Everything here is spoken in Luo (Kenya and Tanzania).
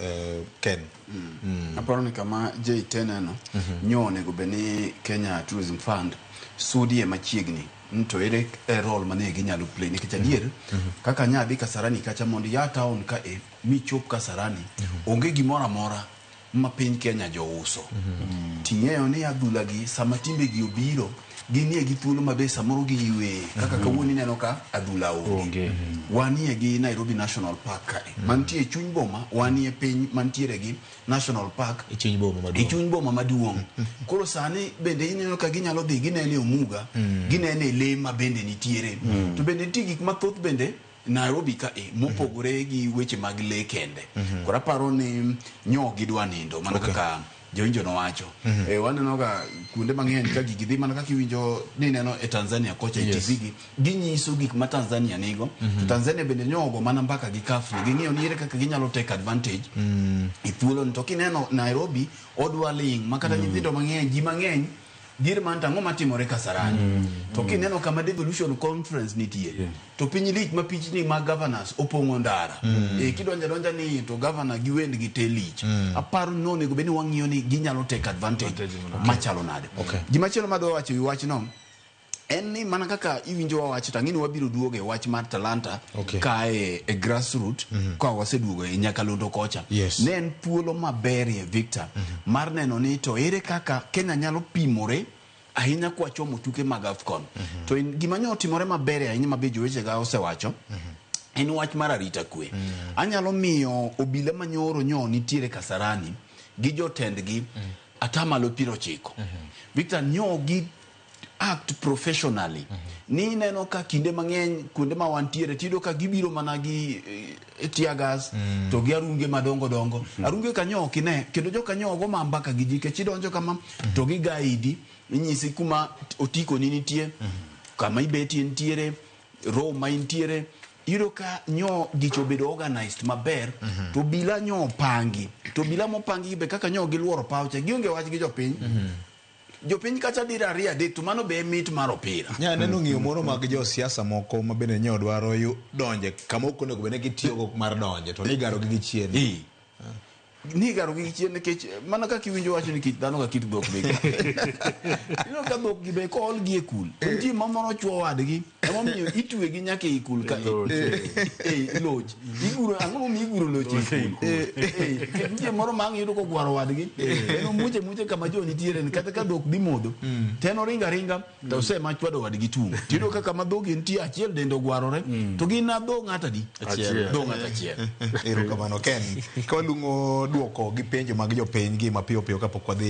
uh, Ken. Mm. Mm. Aparo ni kama Jay teneno mm -hmm. nyo onego bed ni Kenya Tourism Fund sudie machiegni ni to ere e role mane ginyalo play nikech adier mm -hmm. kaka nya adhi Kasarani kacha mondo ya town ka e michop Kasarani mm -hmm. onge gimoro amora ma piny Kenya jouso mm -hmm. ting'eyo ni adhulagi sama timbegi obiro ginie gi thuolo ma be samoro giyueye kaka mhm. kawuono ineno ka adhula onge mhm. wanie gi Nairobi National Park kae mhm. mantie chuny boma wanie piny mantiere gi National Park e chuny boma maduong' e chuny boma maduong' koro sani bende ineno ka ginyalo dhi ginene omuga ginene le ma bende nitiere to bende nitie gik mathoth bende Nairobi ka e mopogore mm -hmm. gi weche mag le kende mm -hmm. koro aparo ni nyo gidwa nindo mana okay. kaka jowinjo nowacho mm -hmm. e, waneno ga kuonde mang'eny ka gigi dhi mana kaka iwinjo ni neno e Tanzania kocha yes. e TV gi ginyiso gik ma Tanzania nigo mm -hmm. to Tanzania bende nyogo mana mbaka gi kafri ging'iyo ni ere kaka ginyalo take advantage mm -hmm. e thuolo ni to kineno Nairobi odwa ling ma kata mm -hmm. nyithindo mang'eny ji mang'eny Dier man to ang'o matimore Kasarani? Mm, mm. To kineno kama devolution conference nitie yeah. to piny lich ma pichni ma governors opong'o ndara mm. e, kidonja donja ni to governor gi wend gi te lich mm. aparo ni onego bed ni wang'iyo ni ginyalo take advantage okay. machalo nade okay. gima chielo madwa wacho wi wachno en ni mana kaka iwinjo wa wach to ang'e ni wabiro duogo e wach mar talanta Okay. kae e grassroot ka waseduogo e nyakalondo kocha Yes. ne en thuolo maberie victor mar neno ni to ere kaka kenya nyalo pimore ahinya kwachomo tuke mag afcon to in- gima nyo otimore maberie ahinya ma be jowechega osewacho en wach mar arita kwe anyalo miyo obila manyoro nyo nitiere kasarani gi jotendgi atamalo piero ochiko victor nyo gi act professionally ni ineno ka kinde mang'eny kuonde ma wantiere tiyudo ka gibiro mana gi eh, tear gas to gi arunge madongo dongo arunge kanyo ok ine kendo jo kanyo ogo ma mbaka gi ji kech idonjo kama to gi gaidi inyisi kuma otikoni nitie kama ibetie nitiere room ma intiere iyudo ka nyo gicho obedo organized maber to bila nyo opangi to bila mopangi be kaka nyo giluoro paw cha gionge wach gi jopiny Jopiny kacha dira ariyo adek to mano be e mit mar opira. Nya neno hmm. ng'iyo moro mag jo siasa moko ma bende nyo dwaro yu donje kama ok onego bende gitiyo go mar donje to nigaro gi gichien. Hi. Nigaro gi gichien nikech mana kaka iwinjo wacho ni kit dhano ka kit dhok bege. Ino ka dhok gi be ko ol gi e kul. Nitie mamoro chwo wadgi. Emomiyo itwegi nyaka ei kul ka ei loch. Iguro ang'o momiyo iguro loch ei kul? Ei, kendo nitie moro ma ang' iyudo kogwaro wadgi. En omuche muche kama jo nitiere ni kata ka dhok dhi modho. To en oringo aringa to ose ma chwado wadgi tung'. To iyudo ka kama dhogi nitie achiel dende ogwarore to gin na dho ng'ato adi? Achiel. Dho ng'ato achiel. Erokamano Ken. Ka waluongo dwoko gi penjo mag jopiny gi mapiyo piyo kapok wadhi